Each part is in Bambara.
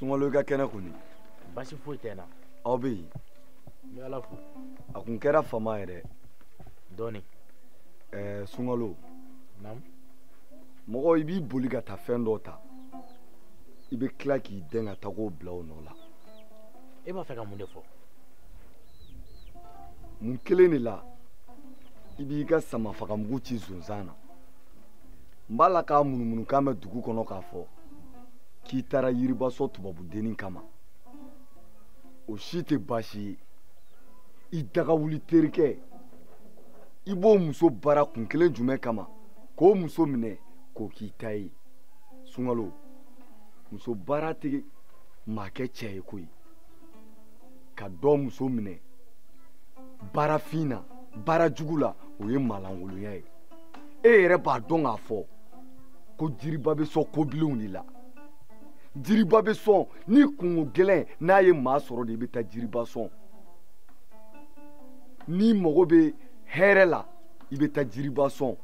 sunkalo i ka kɛnɛ kɔni baasi foyi tɛ n na aw bɛ yen n bɛ ala fo a kun kɛra fama yɛrɛ dɔɔni ɛɛ sunkalo naamu mɔgɔ i b'i boli ka taa fɛn dɔ ta i bɛ tila k'i dɛn ka taa k'o bila o nɔ la e b'a fɛ ka mun de fɔ mun kelen de la i b'i ka samafagamugu ci zonzan na n b'a la k'a ŋunuŋunukan bɛ dugu kɔnɔ k'a fɔ k'i taara yiriba sɔn tubabudennin kama o si tɛ baasi ye i dagawuli terikɛ i b'o muso baara kun kelen jumɛn kama k'o muso minɛ k'o k'i ta ye sunkalo muso baara tɛ maa kɛ cɛ ye koyi ka dɔ muso minɛ baarafin na baara jugu la o ye maalankolonya ye e yɛrɛ b'a dɔn k'a fɔ ko jiriba bɛ sɔn kobilenw de la jiriba bɛ sɔn ni kunko gɛlɛn n'a ye maa sɔrɔ de i bɛ taa jiriba sɔn n'i mago bɛ hɛrɛ la i bɛ taa jiriba sɔn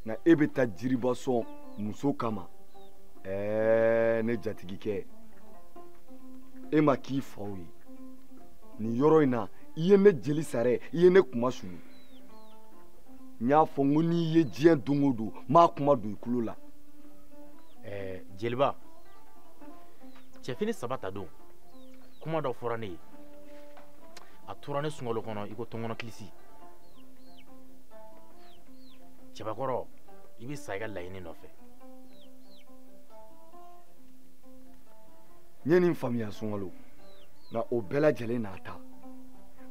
nka e bɛ taa jiriba sɔn muso kama ɛɛ ne jatigikɛ e ma k'i faw ye nin yɔrɔ in na i ye ne jeli sara i ye ne kunmasuli n y'a fɔ n ko n'i ye diɲɛ don o don m'a kuma don i tulo la ɛɛ jeliba cɛfini saba ta don kuma dɔ fɔra ne ye a tora ne sunkalo kɔnɔ i ko tɔnkɔnɔ kilisi cɛbakɔrɔ i bɛ sa i ka laɲini nɔfɛ n ye nin faamuya sunkalo nka o bɛɛ lajɛlen n'a ta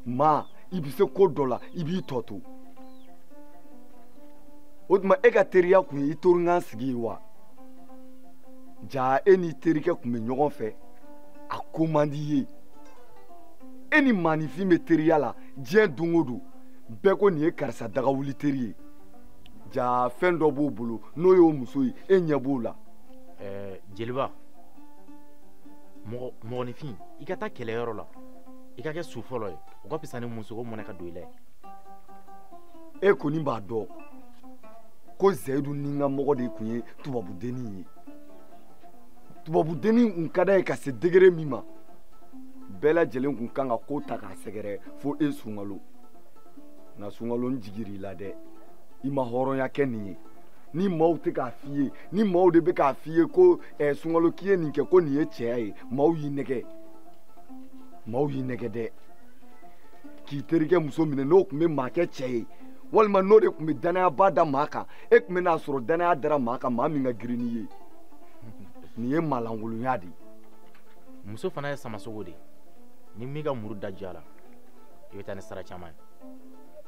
maa i bɛ se ko dɔ la i b'i tɔ to o tuma e ka teriya kun ye i teri kan sigi ye wa jaa e n'i terikɛ kun bɛ ɲɔgɔn fɛ a ko man di i ye e ni maaninfin bɛ teriya la diɲɛ don o don bɛɛ ko nin ye karisa dagawuli teri ye jaa fɛn dɔ b'o bolo n'o y'o muso ye e ɲɛ b'o la ɛɛ jeliba mɔgɔ mɔgɔninfin i ka taa kɛlɛyɔrɔ la i ka kɛ su fɔlɔ ye o ka fisa ni musoko mɔnɛ ka don i la ye e kɔni b'a dɔn ko zayidu nin ka mɔgɔ de tun ye tubabudennin ye tubabudennin tun ka d'a ye ka se degere min ma bɛɛ lajɛlen tun kan ka ko ta k'a sɛgɛrɛ fo e sunkalo nka sunkalo n jigir'i la dɛ i ma hɔrɔnya kɛ nin ye ni maaw tɛ k'a f'i ye ni maaw de bɛ k'a f'i ye ko ɛ sunkalo k'i ye nin kɛ ko nin ye cɛya ye maaw y'i nɛgɛ maaw y'i nɛgɛ dɛ k'i terikɛ muso minɛ n'o tun bɛ maa kɛ cɛ ye walima n'o de tun bɛ dannayaba da maa kan e tun bɛ n'a sɔrɔ dannaya dara maa kan maa min ka girin n'i ye nin ye maalankolonya de ye muso fana ye samasogo de ye ni min ka muru da diyala i bɛ taa ni sara caman ye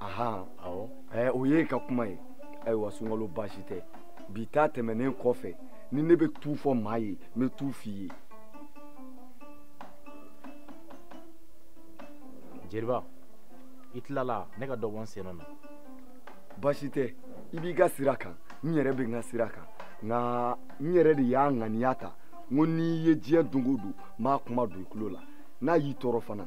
ahan awɔ ɛɛ o y'i ka kuma ye ayiwa sunkalo baasi tɛ bi ta tɛmɛnen kɔfɛ ni ne bɛ t'o fɔ maa ye n bɛ t'o f'i ye. jeliba i tilala ne ka dɔ bɔ n sen na. baasi tɛ i b'i ka sira kan n yɛrɛ bɛ n ka sira kan nka n yɛrɛ de y'a ŋaniya ta n ko n'i ye diɲɛ don o don n b'a kuma don i tulo la n'a y'i tɔɔrɔ fana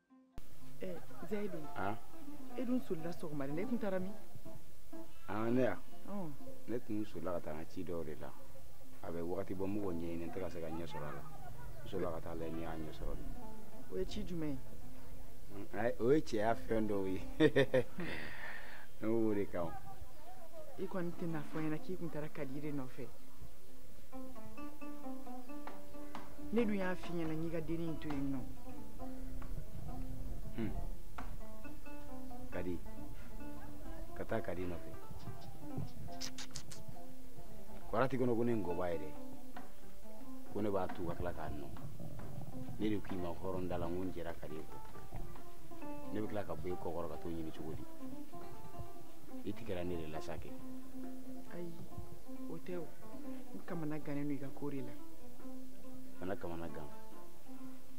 zayidu e dun solila sɔgɔmada la e tun taara min ne ya ne tun solila ka taa n ka ci dɔw de la a bɛ wagati bɔ n b'o ko ɲɛɲini n tɛ ka se ka ɲɛ sɔrɔ a la n solila ka taa lajɛ n'i y'a ɲɛ sɔrɔ de o ye ci jumɛn ye o ye cɛya fɛn dɔw ye ne b'o de kan i kɔni tɛna fɔ n ɲɛna k'i tun taara kadi de nɔfɛ ne dun y'a f'i ɲɛna n k'i ka dennin in to yen nɔ hmm. kadi ka taa kadi nɔfɛ kwarati kɔnɔ ko ne ngɔba yɛrɛ ko ne b'a tu ka tila k'a nɔn ne de k'i ma hɔrɔn da la n ko n jɛra kadi kɔ ne bɛ tila ka bɔ e kɔkɔrɔ ka t'o ɲini cogo di i tigɛra ne de la sa kɛ ayi o tɛ o n kamana gannen don i ka ko de la kana kamana gan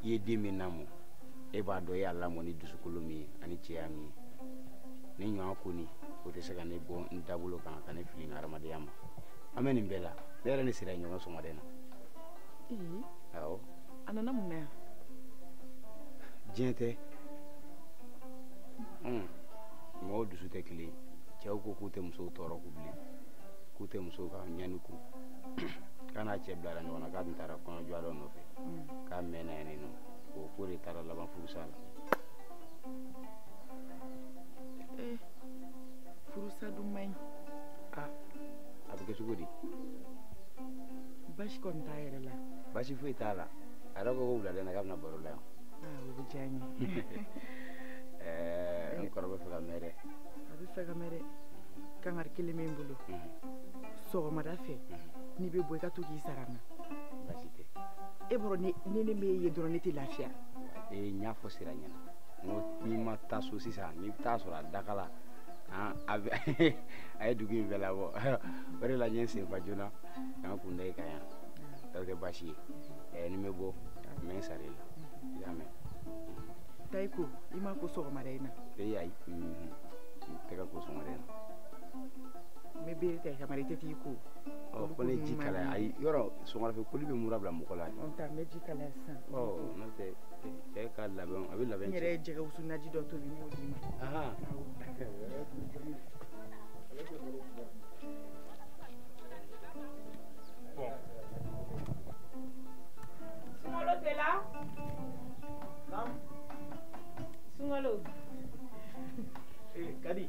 i ye den min lamɔ e b'a dɔn e y'a lamɔ ni dusukolo min ye ani cɛya min ye ne ɲɔgɔn kɔni o tɛ se ka ne bɔ n dabolo kan ka ne fili n ka hadamadenya ma an bɛ nin bɛɛ la ne yɛrɛ ni sira ye ɲɔgɔn sɔgɔmada in na awɔ a nana mun na yan diɲɛ tɛ mɔgɔw dusu tɛ kelen cɛw ko k'u tɛ musow tɔɔrɔ k'u bilen k'u tɛ musow ka ɲani kun k'a n'a cɛ bilara ɲɔgɔn na k'a tun taara kɔɲɔ dɔ nɔfɛ k'a mɛnna yen nɔ o ko de taara laban furusa la eh, furusa dun man ɲi ah, a bɛ kɛ cogo di baasi kɔni t'a yɛrɛ la baasi foyi t'a la a yɛrɛ ko ko wulada in na k'a bɛ na baro la yan ah, o bɛ diya n ye eh, n kɔrɔ bɛ fɛ ka mɛn dɛ a bɛ fɛ ka mɛn dɛ kangari kelen bɛ n bolo mhm. sɔgɔmada fɛ mhm. n'i bɛ bɔ i ka to k'i sara n na e bɔra ni ni ne m'e ye dɔrɔn ne tɛ lafiya. ee n y'a fɔ sira ɲɛna n ko n'i ma taa so sisan n'i bɛ taa sɔrɔ a dakala han a bɛ a ye dugu in bɛɛ labɔ o de la n ye n sen fa joona ka n kun da i kan yan o tɛ baasi ye ɛɛ ni n bɛ bɔ n bɛ n sara i la i y'a mɛn. taa i ko i ma ko sɔgɔmada in na. ee ayi n tɛ ka n ko sɔgɔmada in na. n bɛ bere ta i kama i tɛ t'i ko ɔ ko ne ji kalaya ayi yɔrɔ sɔgɔmada fɛ koli bɛ mura bila mɔgɔ la n ta n bɛ ji kalaya sisan ɔ n'o tɛ cɛ ka labɛn a bɛ labɛn n yɛrɛ ye jɛgɛ wusu naji dɔ tobi n b'o d'i ma Sungalo tɛ la Sungalo eh, Kadi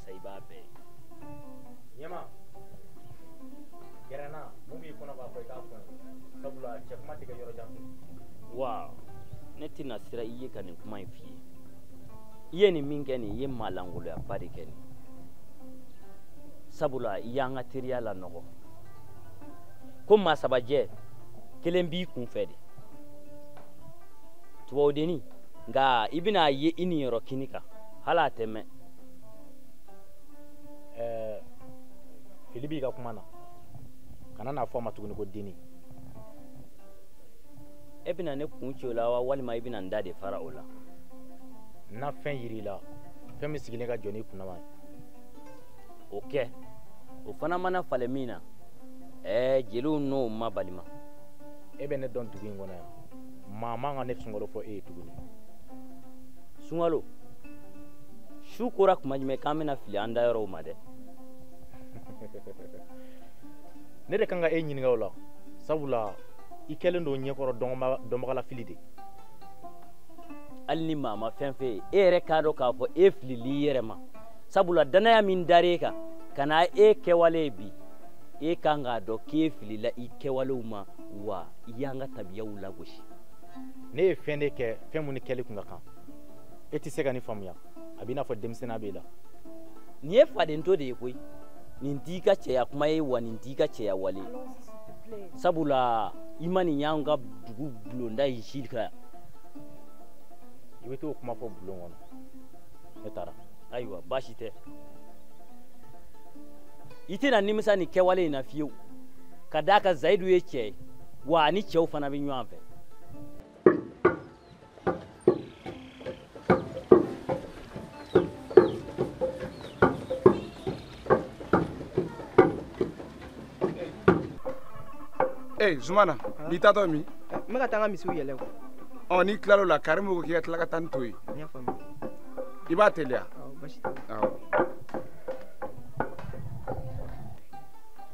sa i b'a bɛɛ ye ɲɛma gɛrɛnna mun b'i kɔnɔ k'a fɔ i k'a fɔ n ye sabula cɛ kuma tɛ kɛ yɔrɔ jan fɛ wa ne tɛna siran i ɲɛ ka nin kuma in f'i ye i ye nin min kɛ nin i ye maalankoloyaba de kɛ nin sabula i y'an ka teriya lanɔgɔ ko maa sabajɛ kelen b'i kun fɛ de tubabudenni nka i bɛna a ye i niyɔrɔ kini kan hali a tɛ mɛɛn ɛɛ fili b'i ka kuma na kana n'a fɔ a ma tuguni ko denni e bɛna ne kun ci o la wa walima i bɛna n da de fara o la n na fɛn yir'i la fɛn min sigilen ka jan n'i kunnama ye o kɛ o fana mana falen min na ɛɛ jeliw n'o ma balima e bɛ ne dɔn dugu in kɔnɔ yan maa man ka ne Sungalo fɔ e ye tuguni Sungalo su kora kuma jumɛn k'an bɛna fili an dayɔrɔw ma dɛ ne de kan ka e ɲininka o la sabula i kɛlen don ɲɛkɔrɔ dɔnbaga lafili de hali ni maa ma fɛn f'e ye e yɛrɛ k'a dɔn k'a fɔ e filila i yɛrɛ ma sabula dannaya min dar'e kan ka na e kɛwale ye bi e kan k'a dɔn k'e filila i kɛwalew ma wa i y'an ka tabiyaw lagosi ne ye fɛn de kɛ fɛn minnu kɛli kun ka kan e tɛ se ka nin faamuya a b'i n'a fɔ denmisɛnniya b'i la nin ye fadento de ye koyi nin t'i ka cɛya kuma ye wa nin t'i ka cɛya wale sabula i ma nin y'an ka dugu bulonda ye ji ka yan i bɛ t'o kuma fɔ bulon kɔnɔ ne taara ayiwa baasi tɛ i tɛna nimisa nin kɛwale in na fiyewu ka d'a kan zayidu ye cɛ ye wa ani cɛw fana bɛ ɲɔgɔn fɛ ee zumana i taatɔ min n bɛ ka taa n ka misiw yɛlɛ kuwa ɔ n'i tilal'o la karimu ko k'i ka tila ka taa ni to ye i b'a teliya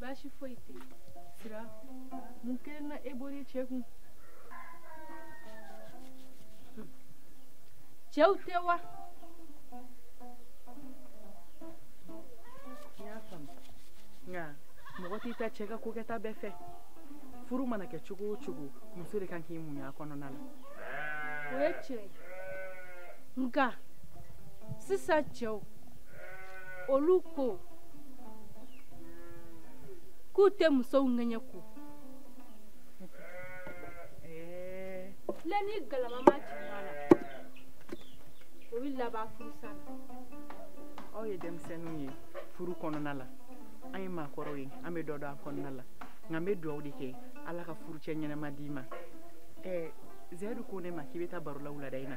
baasi foyi tɛ sira mun kelen na e bɔra cɛ kun cɛw tɛ wa n y'a faamu nka mɔgɔ t'i ta cɛ ka ko kɛta bɛɛ fɛ furu mana kɛ cogo o cogo muso de kan k'i muɲu a kɔnɔna la o ye tiɲɛ ye nka sisan cɛw olu ko k'u tɛ musow ŋɛɲɛ ko la ni galama ma jigin a la o bɛ laban furusa la aw ye denmisɛnninw ye furu kɔnɔna la an ye maakɔrɔw ye an bɛ dɔ dɔn a kɔnɔna la nka n bɛ dugawu de kɛ ala ka furucɛ ɲɛnama d'i ma ɛɛ zɛdu ko ne ma k'i bɛ taa baro la wulada in na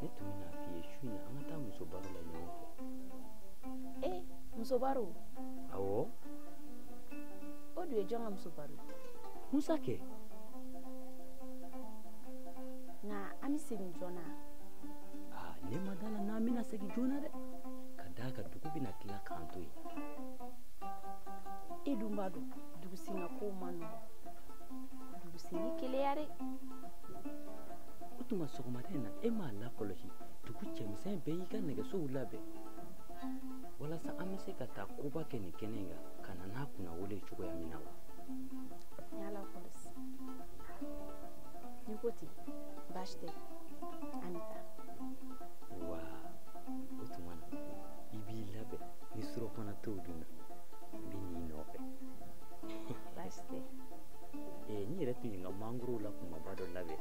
ne tun bɛna f'i ye su in na an ka taa muso baro la ɲɔgɔn fɛ e eh, muso baro awɔ o dun ye jɔn ka muso baro ye musa kɛ nka an bɛ segin joona aa ne ma da la n'an bɛna segin joona dɛ ka d'a kan dugu bɛna tila k'an to yen e dun b'a dɔn dugusenna kow man nɔgɔn dugusenni keleya dɛ o tuma sɔgɔmada in na e m'a lakɔlɔsi dugu cɛmisɛn bɛɛ y'i ka nɛgɛsow labɛn walasa an bɛ se ka taa koba kɛ nin kɛnɛ in kan ka na n'a kunnawolo ye cogoya min na wa n'i ko ten baasi tɛ an bɛ taa wa o tuma na i b'i labɛn ni surɔfana to dunna n bɛ n'i nɔfɛ baasi tɛ ee n yɛrɛ tun ye n ka mangoro la kumaba dɔ labɛn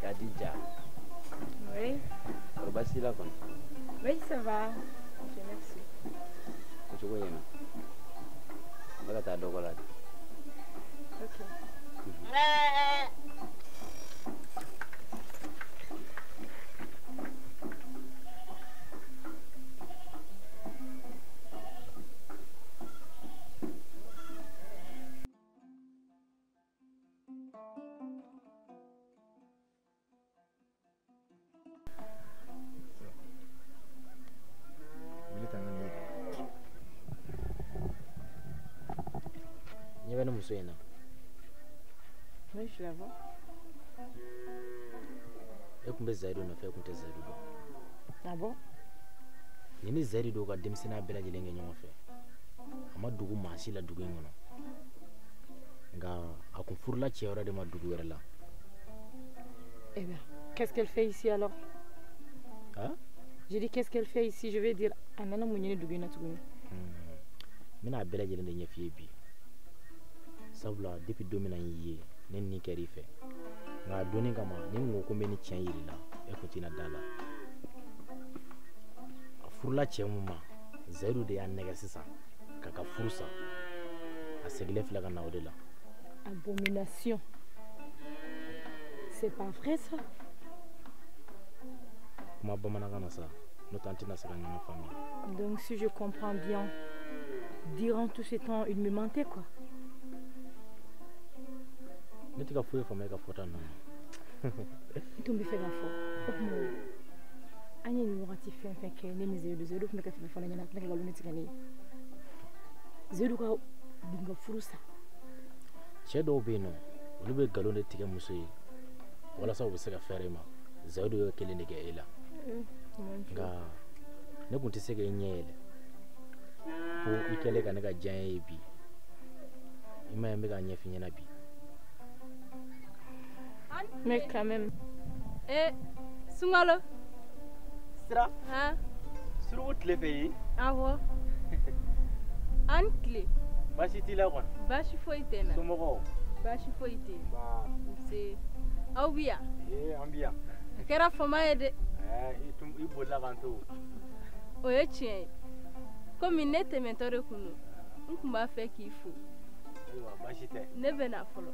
Kadija kɔri baasi la kɔni Oui, ça va. Dieu merci. o cogo ɲɛna n bɛ ka taa dɔgɔ la de Ok. muso in na e tun bɛ zayidu nɔfɛ e tun tɛ zayidu dɔn nin ni zayidu de y'u ka denmisɛnninya bɛɛ lajɛlen kɛ ɲɔgɔn fɛ a ma dogo maa si la dugu in kɔnɔ nka a kun furula cɛ wɛrɛ de ma dugu wɛrɛ la Eh bien, qu'est-ce qu'elle fait ici alors Hein J'ai dit qu'est-ce qu'elle fait ici Je vais dire a nana mun ɲini dugu in na tuguni n bɛna a bɛɛ lajɛlen de ɲɛf'i ye bi sabula depuis don min na n y'i ye ne ni kɛr'i fɛ nka a dɔnni kama ni n ko ko n bɛ nin tiɲɛ yir'i la e kun tɛna da a la a furula cɛ min ma zayidu de y'a nɛgɛ sisan k'a ka furu sa a segilen filɛ ka na o de la abomination c'est pas vrai ça kuma bamanankan na sa n'o tɛ an tɛna se ka ɲɔgɔn faamuya donc si je comprends bien durant tout ce temps il me mentait quoi ne tɛ ka foyi faamuya i ka fɔta ninnu na i tun b'a fɛ k'a fɔ o tuma an ye nin wagati fɛn o fɛn kɛ ne ni zayidu zayidu tun bɛ ka fana ɲɛna tila ka nkalon tigɛ ne ye zayidu k'a b'u ka furu sa cɛ dɔw bɛ yen nɔ olu bɛ nkalon de tigɛ muso ye walasa u bɛ se ka fɛrɛ i ma zayidu y'o kelen de kɛ e la nka ne tun tɛ se ka e ɲɛ yɛlɛ fo i kɛlen ka ne ka jɛya ye bi i m'a ye n bɛ k'a ɲɛf'i ɲɛna bi mais quand même eh sunkalo sira han suruku tile fɛ yen awɔ aw ni tile baasi t'i la kɔni baasi foyi tɛ n na somɔgɔw baasi foyi tɛ yen nba nse aw bi yan ee an bi yan a kɛra fama ye dɛ ɛɛ i tun i bolila k'an to o ye tiɲɛ ye komi ne tɛmɛtɔ de kun don n tun b'a fɛ k'i fo ayiwa baasi tɛ ne bɛ na fɔlɔ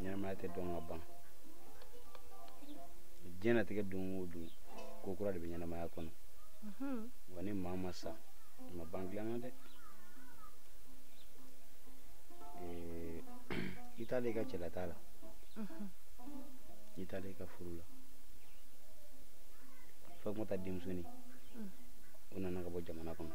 ɲɛnamaya tɛ dɔn ka ban diɲɛnatigɛ don o don ko kura de bɛ ɲɛnamaya kɔnɔ mhm. wa ni maa ma sa a ma ban dilan na dɛ eh, i taalen i ka cɛla taa la mhm. i taalen i ka furu la fatumata denmusonin mm. o nana ka bɔ jamana kɔnɔ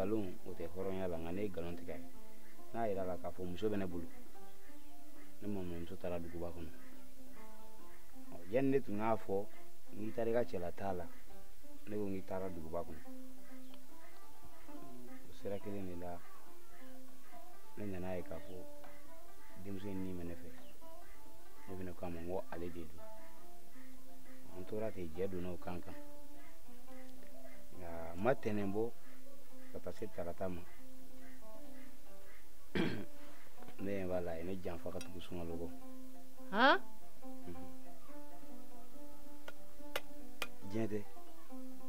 nkalon o tɛ hɔrɔnya la nka ne ye nkalon tigɛ n y'a yira a la k'a fɔ muso bɛ ne bolo ne maminɛmuso taara duguba kɔnɔ yanni ne tun k'a fɔ i taara i ka cɛla taa la ne ko k'i taara duguba kɔnɔ o sira kelen de la ne nana a ye k'a fɔ denmuso in ni bɛ ne fɛ ne fana k'a ma n ko ale de don an tora ten jɛ donna o kan kan nka a ma tɛnɛn bɔ ka taa se tarata ma ne ɲɛ b'a la a ye ne janfa ka tugu sunkalo kɔ diɲɛ tɛ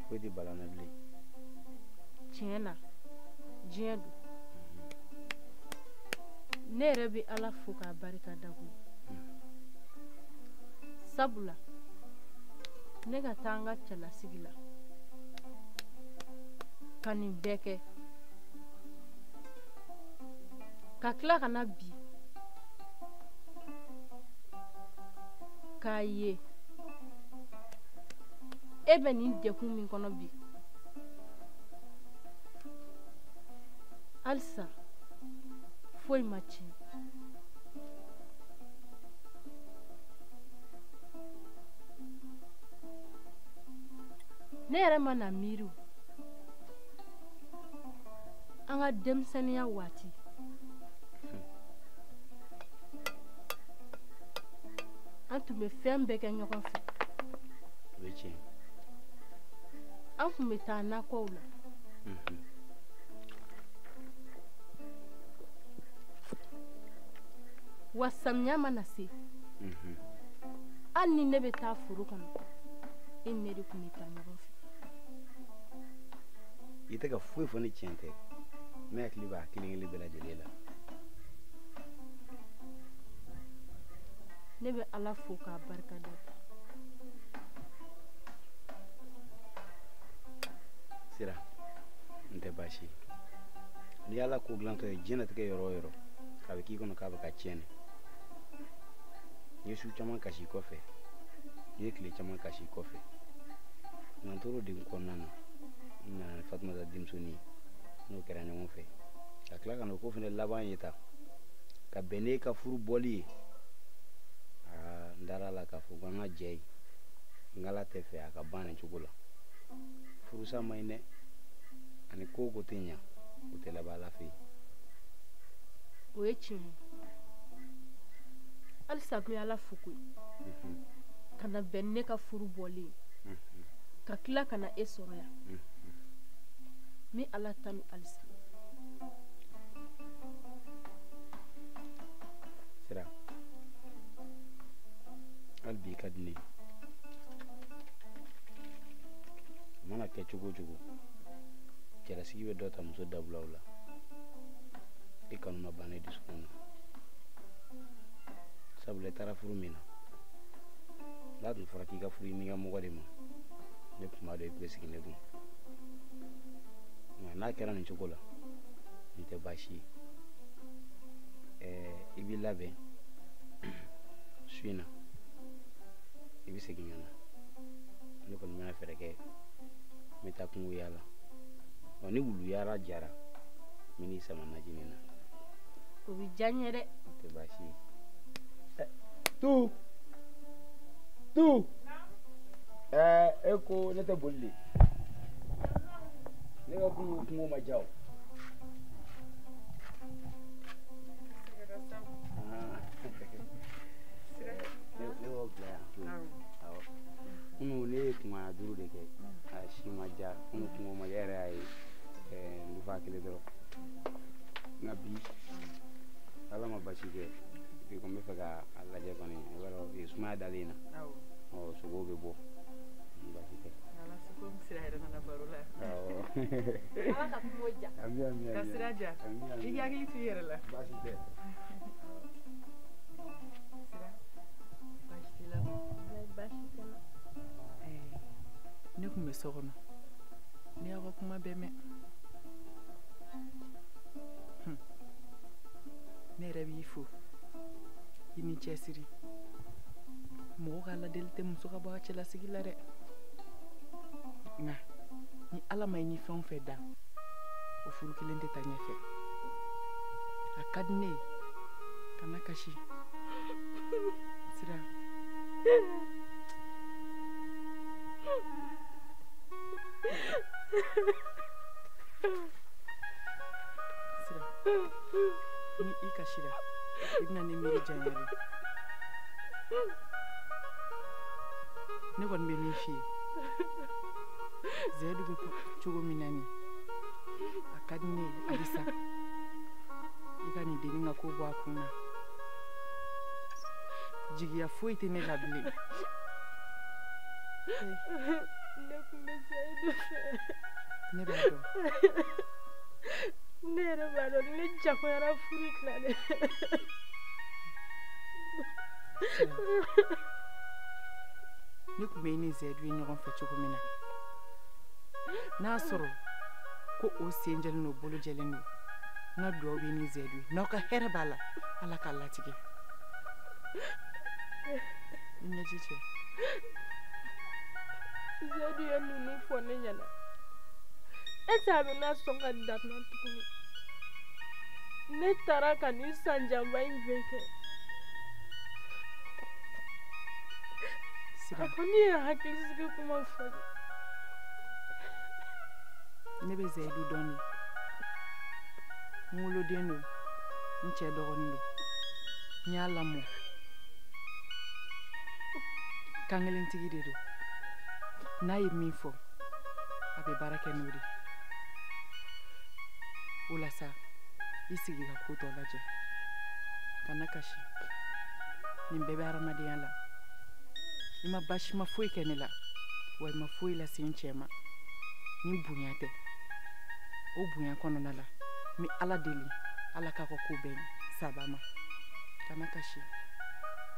foyi tɛ bala n na bilen tiɲɛ na diɲɛ don ne yɛrɛ bɛ ala fo k'a barika da koyi sabula ne ka taa n ka cɛlasigi la ka nin bɛɛ kɛ ka tila ka na bi k'a ye e bɛ nin degun min kɔnɔ bi halisa foyi ma tiɲɛ ne yɛrɛ mana miiri o an ka denmisɛnninya waati an tun bɛ fɛn bɛɛ kɛ ɲɔgɔn fɛ an tun bɛ taa nakɔw la mhm. wa samiya mana se hali ni ne bɛ taa foro kɔnɔ e ni ne de tun bɛ taa ɲɔgɔn fɛ i tɛ ka foyi fɔ ni tiɲɛ tɛ ne hakili b'a kelen kelen bɛɛ lajɛlen la ne bɛ ala fo k'a barika da siran tɛ baasi n'i y'ala ko dilantɔ ye diɲɛnatigɛ yɔrɔ o yɔrɔ a bɛ k'i kɔnɔ k'a bɛ ka tiɲɛ de n ye su caman kasi kɔfɛ n ye tile caman kasi kɔfɛ nka n tor'o degun kɔnɔna na n nana ni fatumata denmisɛnnin ye n'o kɛra ɲɔgɔn fɛ ka tila ka na o ko fana laban ye taa ka bɛn n'e ka furu bɔli ye aa n dara a la k'a fɔ ko an ka jɛ in ala t'a fɛ a ka ban nin cogo la furusa man ɲi dɛ ani ko o ko tɛ ɲa o tɛ laban ala fɛ yen o ye tiɲɛ ye halisa n bɛ ala fo koyi ka na bɛn ne ka furu bɔlen ka tila ka na e sɔrɔ yan n bɛ ala tanu halisa sira hali bi ka di ne ye a mana kɛ cogo o cogo cɛlasigi bɛ dɔ ta muso dawula la i kanu ma ban ne dusukun na sabula i taara furu min na n'a tun fɔra k'i ka furu i nikanmɔgɔ de ma ne tun b'a dɔn i tun bɛ sigi ne kun nka n'a kɛra nin cogo la nin tɛ baasi ye ɛɛ i b'i labɛn su in na i bɛ segin ka na ne kɔni bɛna fɛɛrɛ kɛ n bɛ taa kungo yaala ɔ ni wuluyara jara min n'i sama najini na o bɛ diya n ye dɛ o tɛ baasi ye eh, tu tu ɛɛ eh, e ko ne tɛ boli de ne ka kungo kungo ma diya o kunun ne ye kungo duuru de kɛ a si ma diya kunun kungo ma kɛ yɛrɛ y'a ye n fa kelen dɔrɔn nka bi ala ma baasi kɛ bi ko n bɛ fɛ ka a lajɛ kɔni i b'a dɔn eh, sumaya dalen na ɔ sogo bɛ bɔ baasi tɛ ala ka kungo diya ka sira diya i hakili to i yɛrɛ la baasi tɛ ne tun bɛ so kɔnɔ ne y'aw ka kuma bɛɛ mɛn hmm. ne yɛrɛ b'i fo i ni cɛsiri mɔgɔ ka ladeli tɛ muso ka bɔ a cɛlasigi la dɛ nka ni ala ma i ni fɛn o fɛn da o furu kelen tɛ taa ɲɛfɛ a ka di ne ye kana kasi sira ni i kasira i bɛna ne miiri janya de ne kɔni bɛ min f'i ye zɛdu bɛ cogo min na nin a ka di ne ye halisa i ka nin dennin ka ko bɔ a kun na jigiya foyi tɛ ne la bilen ne tun bɛ sa e de fɛ ne b'a dɔn ne yɛrɛ b'a dɔn ne jagoyara furu tilalen ne tun bɛ i ni zayidu ye ɲɔgɔn fɛ cogo min na n'a sɔrɔ ko aw sen jɛlen don bolo jɛlen don n ka dugawu b'i ni zayidu ye n'aw ka hɛrɛ b'a la ala k'a latigɛ i ɲɛji cɛ zayidu ye ninnu fɔ n ɲɛna a tɛna sɔn ka da n na tuguni ne taara ka nin san janba in bɛɛ kɛ a kɔ ne ye hakilisigi kuma fɔ ne bɛ zayidu dɔn de n woloden don n cɛ dɔgɔnin don n y'a lamɔ kankelentigi de don n'a ye min fɔ a bɛ baara kɛ n'o de o la sa i sigi ka ko tɔ lajɛ kana kasi nin bɛɛ bɛ hadamadenya la i ma baasima foyi kɛ ne la wa i ma foyi lase n cɛ ma ni bonya tɛ o bonya kɔnɔna la n bɛ ala deli ala k'a ka ko bɛɛ ɲɛ saba ma kana kasi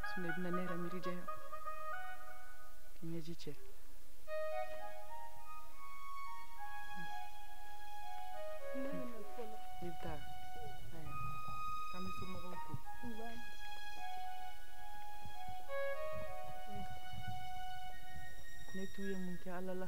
sinɔ i bɛna ne yɛrɛ miiri janya k'i ɲɛji cɛ i bɛ taa k'an bɛ somɔgɔw fo ne tun ye mun kɛ ala la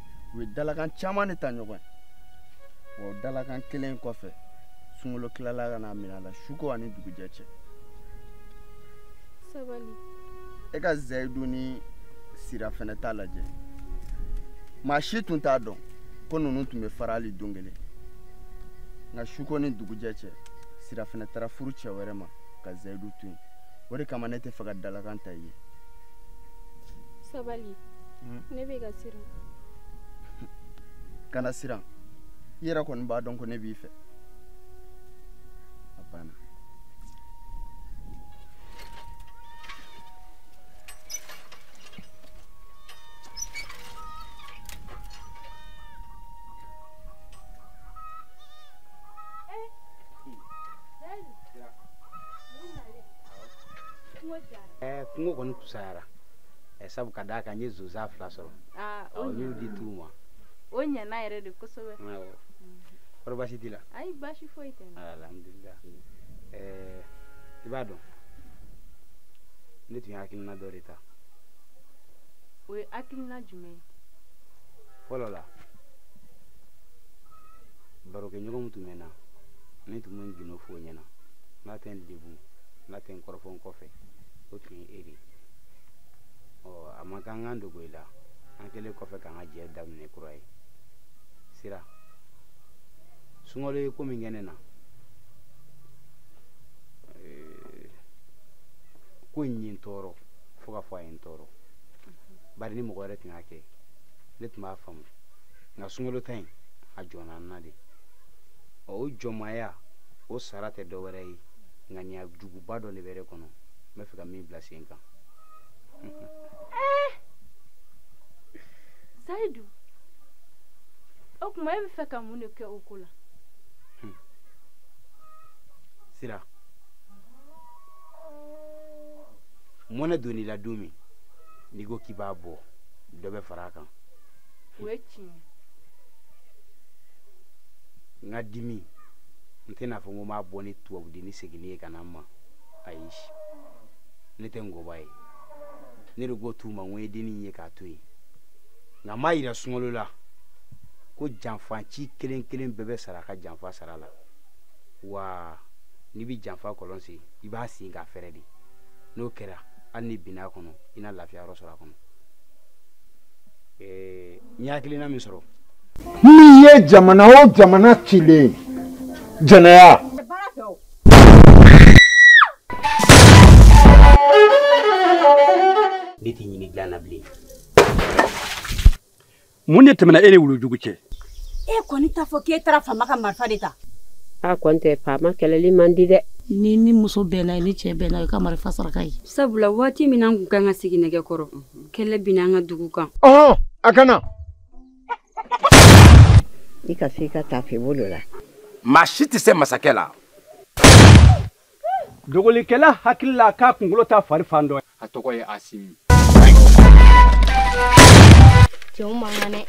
u ye dalakan caman de ta ɲɔgɔn ye wa dalakan kelen kɔfɛ sunkalo tilala ka n'a minɛ a la suko ani dugujɛ cɛ sabali e ka zayidu ni sira fanɛ ta lajɛ maa si tun t'a dɔn ko ninnu tun bɛ fara hali don kelen nka suko ni dugujɛ cɛ sira fanɛ taara furu cɛ wɛrɛ ma ka zayidu to yen o de kama ne t'a fɛ ka dalakan ta i ye sabali ne bɛ ka siran kana siran i yɛrɛ kɔni b'a dɔn ko ne b'i fɛ a banna kunko kɔni fisayara ɛ sabu ka d'a kan n ye zonzan fila sɔrɔ ah, n y'u di tu ma o ɲɛna yɛrɛ de kosɛbɛ kɔri baasi t'i la ayi baasi foyi tɛ ah, alhamdulilah eh, i b'a dɔn ne tun ye hakilina dɔ de ta o ye hakilina jumɛn ye fɔlɔ la barokɛɲɔgɔn min tun bɛ n na ne tun bɛ n gindo f'o ɲɛna n'a tɛ n degun n'a tɛ n kɔrɔfɔ n kɔfɛ o tun ye e de ye ɔ a man kan n ka n dogo i la an kɛlen kɔfɛ k'an ka jɛ daminɛ kura ye sira sunkalo ye ko min kɛ ne na eh, ko in ye n tɔɔrɔ fo ka fɔ a ye n tɔɔrɔ bari ni mɔgɔ wɛrɛ tun y'a kɛ ne tun b'a faamu nka sunkalo ta in a jɔnna n na de o jɔnmaya o sara tɛ dɔ wɛrɛ ye ŋaniya juguba dɔ de bɛ ne kɔnɔ n bɛ fɛ ka min bila sen kan sayidu o tuma e bɛ fɛ ka mun de kɛ o ko la sira mɔnɛ donn'i la don min n'i ko k'i b'a bɔ dɔ bɛ fara a kan o ye tiɲɛ n ka dimi n tɛn'a fɔ n ko n b'a bɔ ni tubabudennin seginni ye ka na n ma ayi ne tɛ ngɔba ye ne de ko tu ma n ko ye dennin ye k'a to yen nka n b'a yira sunkalo la ko janfaci kelen kelen bɛɛ bɛ sara a ka janfa sara la wa n'i bɛ janfa kɔlɔn sen i b'a sen k'a fɛrɛ de n'o kɛra hali ni binna a kɔnɔ i na lafiya yɔrɔ sɔrɔ a kɔnɔ ɛɛ n ye hakilina min sɔrɔ. n'i ye jamana o jamana cilen jɛnɛya. ne t'i ɲini dilan na bilen mun de tɛmɛna e ni wulujugu cɛ e kɔni t'a fɔ k'e taara faama ka marifa de ta a kɔni tɛ faama kɛlɛli man di dɛ ni ni muso bɛnna ye ni cɛ bɛnna ye ka marifa saraka ye sabula waati min an kun kan ka sigi nɛgɛ kɔrɔ kɛlɛ binna an ka dugu kan ɔhɔn a kana i ka se i ka taafe bolo la maa si tɛ se masakɛ la dogolikɛla hakili la k'a kunkolo ta fari fan dɔ a tɔgɔ ye asimi cɛw man kan dɛ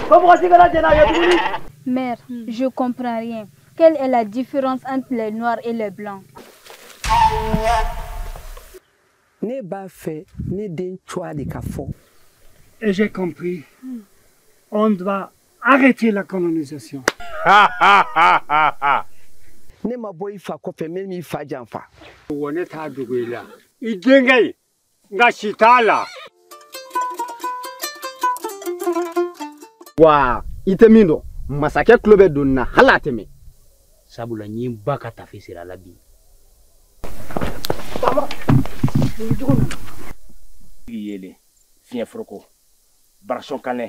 ko mɔgɔ si kana jɛn'a kɛ tuguni mère je comprends rien quelle est la différence entre les noirs et les blancs Ne b'a fɛ ne den cogoya de ka fɔ. Et j'ai compris. Hmm. On doit arrêter la colonisation. ne ma bɔ i fa kɔfɛ n ma i fa janfa. Wa ne t'a dogo i la. I denkɛ in nka si t'a la. wa i tɛ min dɔn masakɛ tulo bɛ don na hali a tɛ mɛn sabula n ye n ba ka tafe siri a la bi yelen fiɲɛ foroko barasɔn kanɛ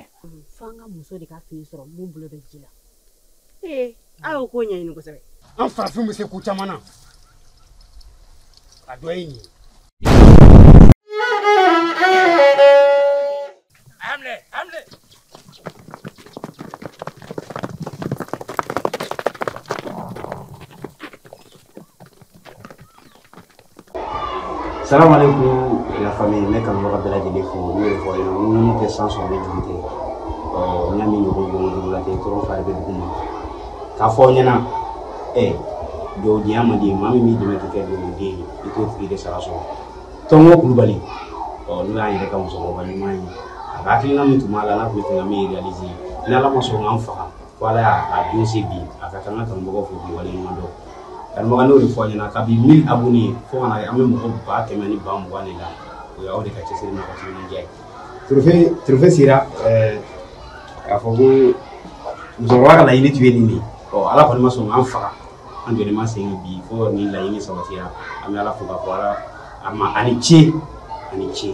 fo an ka muso de ka fini sɔrɔ mun bolo bɛ ji la ee a y'o ko ɲɛɲini kosɛbɛ an farafin bɛ se ko caman na a dɔ ye nin ye salamu aleykum la famille ne kanubaga bɛɛ lajɛlen fo n b'o de fɔ ye ŋunu tɛ san sɔrɔ ni juru tɛ ɔ n y'a min ɲɔgɔn don dugu la ten tɔɔrɔ fari bɛ dugu ma k'a fɔ aw ɲɛna ɛ dɔwdenya man di maa min b'i dɛmɛ k'i kɛ dɔwden ye i t'o tigi de sara sɔrɔ tɔnko kulubali ɔ n'o y'an yɛrɛ ka musokɔrɔba ɲuman ye a ka hakilina min tun b'a la n'a tun b'a fɛ ka min réaliser ni ala ma sɔn k'an faga Ala y'a don se bi a ka taa ka mɔgɔ fo mɔgɔ ɲuman dɔn karamɔgɔ n b'o de fɔ ɲɛna ka bi mi a ye fo kana an bɛ mɔgɔ ba kɛmɛ ni ba mugan de la o y'aw de ka cɛsiri tufe sera k'a fɔ ko musokɔrɔba ka laɲini tun ye nin de ɔ ala kɔni ma sɔn an faga an jɔlen ma sen bi fo ni laɲini sabatira an bɛ ala fo k'a fɔ ala ma a ni ce a ni ce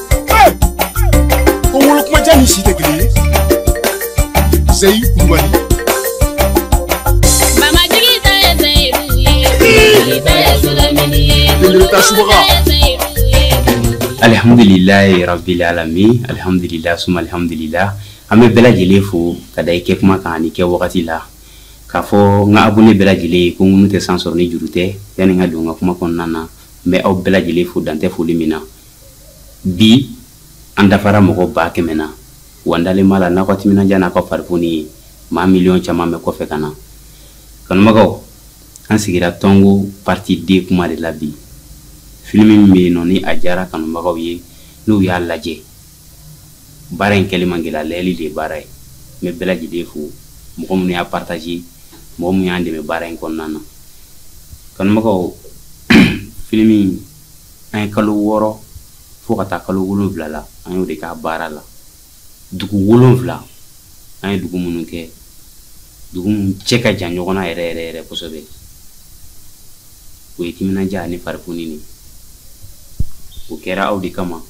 ko wolo kuma ja ni si tɛ kelen ye seyi kulubali Mamajigi ta ye Seyidu ye. Jigi ta ye Sulamini ye. Belebele ta subaga. Jigi ta ye Seyidu ye. alihamudulilayi rabili alami alihamudulila suma alihamudulila an bɛ bɛɛ lajɛlen fo ka da i kɛ kuma kan ani kɛ wagati la k'a fɔ n ka abone bɛɛ lajɛlen ye ko ŋunu tɛ san sɔrɔ ni juru tɛ yanni n ka don n ka kuma kɔnɔna na n bɛ aw bɛɛ lajɛlen fo dan tɛ foli min na Bi an dafara mɔgɔ ba kɛmɛ na wa n dalen b'a la n'aw ka timinandiya n'a ka farifoni ye maa miliyɔn caman bɛ kɔfɛ ka na kanubagaw an sigira tɔnko partie deux kuma de la bi filimi min bɛ yen nɔ ni a diyara kanubagaw ye n'u y'a lajɛ baara in kɛli man gɛlɛ lajɛli de ye baara ye n bɛ bɛɛ lajɛlen fo mɔgɔ minnu y'a partage mɔgɔ minnu y'an dɛmɛ baara in kɔnɔna na kanubagaw filimi an ye kalo wɔɔrɔ fo ka taa kalo wolonfila la an y'o de k'a baara la dugu wolonfila an ye dugu minnu kɛ dugu minnu cɛ ka jan ɲɔgɔn na yɛrɛ yɛrɛ yɛrɛ kosɛbɛ o ye timinandiya ani farifoni de o kɛra aw de kama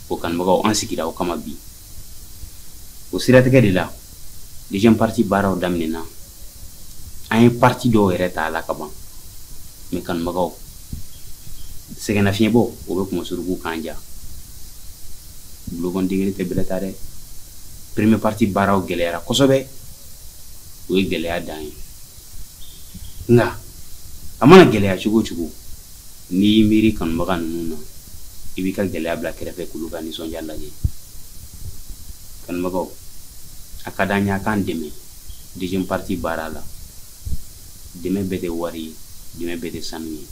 o kanubagaw an sigira aw kama bi o siratigɛ de la deuxième partie baaraw daminɛna an ye partie dɔw yɛrɛ ta a la ka ban mais kanubagaw sɛgɛnnafiɲɛbɔ o bɛ kunmasorogow kan ja bolokɔnden kelen tɛ bɛlɛ ta dɛ premier partie baaraw gɛlɛyara kosɛbɛ o ye gɛlɛya dan ye nka a mana gɛlɛya cogo o cogo n'i y'i miiri kanubaga ninnu na i b'i ka gɛlɛya bila kɛrɛfɛ k'olu ka nisɔndiya lajɛ kanubagaw a ka d'an ye a k'an dɛmɛ deuxième partie baara la dɛmɛ bɛɛ tɛ wari ye dɛmɛ bɛɛ tɛ sanu ye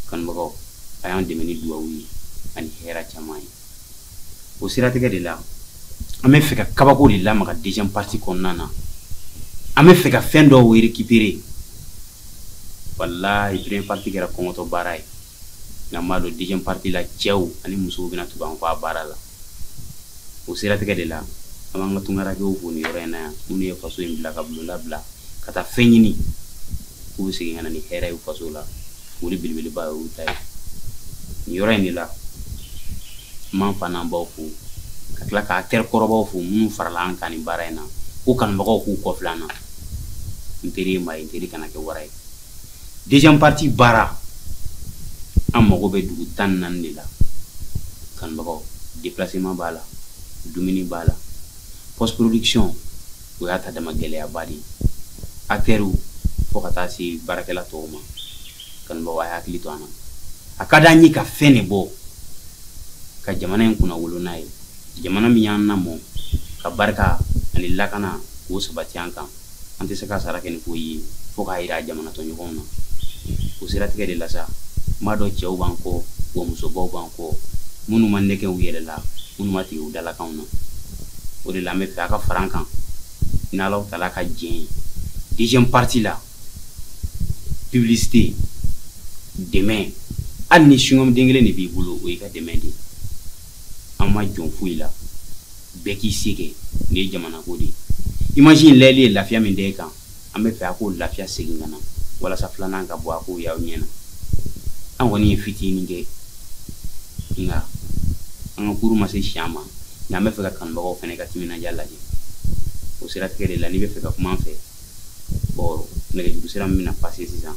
kanubagaw a y'an dɛmɛ ni duwawu ye ani hɛrɛ caman ye o siratigɛ de la an bɛ fɛ ka kabako de lamaga deuxième partie kɔnɔna na an bɛ fɛ ka fɛn dɔw récupérer walayi première partie kɛra kɔngɔtɔ baara ye nka n b'a dɔn deuxième partie la cɛw ani musow bɛna tugu an kɔ a baara la o siratigɛ de la an b'an ka tungarakɛw fo nin yɔrɔ in na yan minnu ye faso in bila ka bulonda bila ka taa fɛn ɲini k'u bɛ segin ka na ni hɛrɛ ye faso la foli belebeleba y'o ta ye nin yɔrɔ in de la n b'an fa n'an baw fo ka tila k'an teri kɔrɔbaw fo minnu farala an kan nin baara in na ko kanubagaw k'u kɔfilɛ an na n teri ye maa ye n teri kana kɛ wara ye deuxième partie baara an mago bɛ dugu tan ni naani de la kanubagaw déplacement b'a la dumuni b'a la post production o y'a ta dama gɛlɛyaba de ye acteurs fo ka taa se baarakɛla tɔw ma kanubaaw a hakili to an na a ka d'an ye ka fɛn de bɔ ka jamana in kunna wolo n'a ye jamana min y'an lamɔ ka barika ani lakana k'o sabati an kan an tɛ se k'a sara kɛ ni ko ye fo k'a yira jamana tɔɲɔgɔnw na o siratigɛ de la sa n b'a dɔn cɛw b'an kɔ wa musobaw b'an kɔ minnu ma nɛgɛ u yɛrɛ la minnu ma tigɛ u dalakanw na o de la an bɛ fɛ a ka fara an kan n'ala taara ka diɲɛ ye deuxième partie la publicité dɛmɛ hali ni singɔmu den kelen de b'i bolo o y'i ka dɛmɛ de ye an ma jɔn foyi la bɛɛ k'i se kɛ nin ye jamanako de ye image in lajɛli ye lafiya min da e kan an bɛ fɛ a k'o lafiya segin ka na walasa filanan ka bɔ a k'o y'aw ɲɛ na an kɔni ye fitinin kɛ nka an ka kuru ma se si an ma nka an bɛ fɛ ka kanubagaw fana ka timinandiya lajɛ o siratigɛ de la n'i bɛ fɛ ka kuma an fɛ bɔn nɛgɛjuru sira min bɛna passer sisan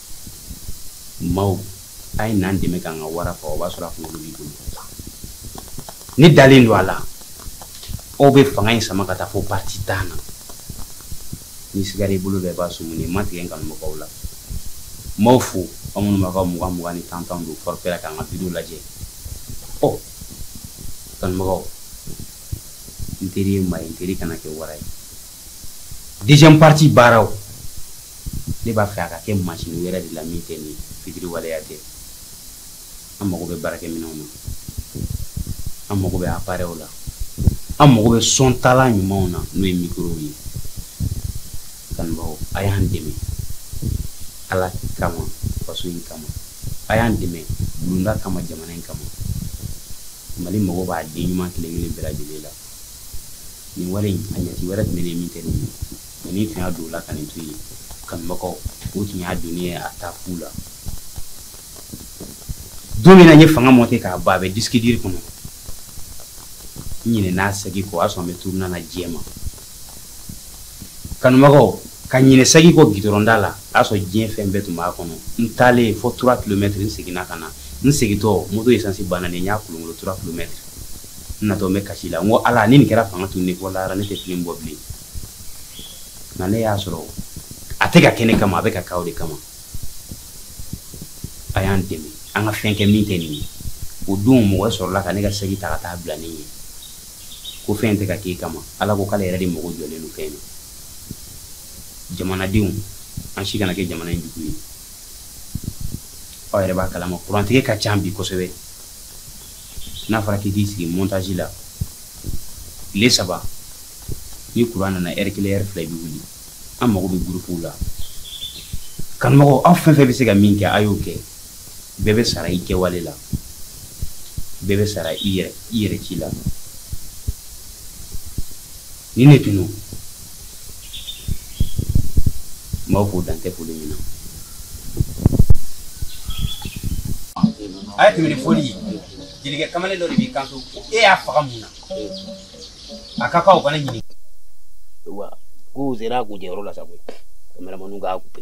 maaw a ye n'an dɛmɛ k'an ka wara faga o b'a sɔrɔ a kunkolo b'i bolo ne dalen don a la aw bɛ fanga in sama ka taa fo parti tan na ni sigara i bolo bɛɛ b'a sumu nin ma tigɛ n kanubagaw la n b'aw fo aw minnu b'a ka mugan mugan ni tan tan don forfait la k'an ka video lajɛ ɔ kanubagaw n teri ye maa ye n teri kana kɛ wara ye deuxième partie baaraw ne b'a fɛ a ka kɛ masini wɛrɛ de la min tɛ nin fitiriwaleya tɛ an mago bɛ baarakɛminɛnw na an mago bɛ aparɛw la an mago bɛ sɔn taalan ɲumanw na n'o ye mikorow ye kanubaaw a y'an dɛmɛ ala kama faso in kama a y'an dɛmɛ bulonda kama jamana in kama mali mago b'a den ɲuman kelen kelen bɛɛ lajɛlen la nin wale in a ɲɛti wɛrɛ tun bɛ min kɛ nin ye ni tun y'a don o la ka nin to yen kanubagaw o tun y'a don ne ye a taa fu la don min na n ye fanga monte k'a ban a bɛ disikidiri kɔnɔ n ɲinɛna saki kɔ o y'a sɔrɔ n bɛ turuna na diɲɛ ma kanubagaw ka ɲinɛ saki kɔ gidɔrɔnda la a y'a sɔrɔ diɲɛ fɛn bɛɛ tun b'a kɔnɔ n taalen fo trois kilomètres n seginna ka na n segintɔ moto esansi banna de n y'a kolonkolon trois kilomètres n natɔ n bɛ kasi la n ko ala ni nin kɛra fanga tunun ne bɔ lahara ne tɛ filimu bɔ bilen nka ne y'a sɔrɔ a tɛ ka kɛ ne kama a bɛ ka k'aw de kama a y'an dɛmɛ an ka fɛn kɛ min tɛ nin ye o don mɔgɔ sɔrɔla ka ne ka saki ta ka taa bila ne ye ko fɛn tɛ ka k'e kama ala ko k'ale yɛrɛ de mago jɔlen don fɛn na jamanadenw an si kana kɛ jamana in jugu ye aw yɛrɛ b'a kalama kurantigɛ ka ca bi kosɛbɛ n'a fɔra k'i k'i sigi montage la tile saba ni kuran nana ɛri kelen ɛri fila i bɛ wuli an mago bɛ gurupuw la kanumɔgɔw aw fɛn fɛn bɛ se ka min kɛ a y'o kɛ bɛɛ bɛ sara i kɛwale la bɛɛ bɛ sara i yɛrɛ i yɛrɛ ci la Ni ne tun don n b'aw fo dan tɛ foli min na a ye tɛmɛ ni foli ye jelikɛ kamalen dɔ de b'i kanto ko e y'a faga mun na a ka kan o kana ɲininka wa k'u sera k'u jɛyɔrɔ la sa koyi kameramaniw k'a kupe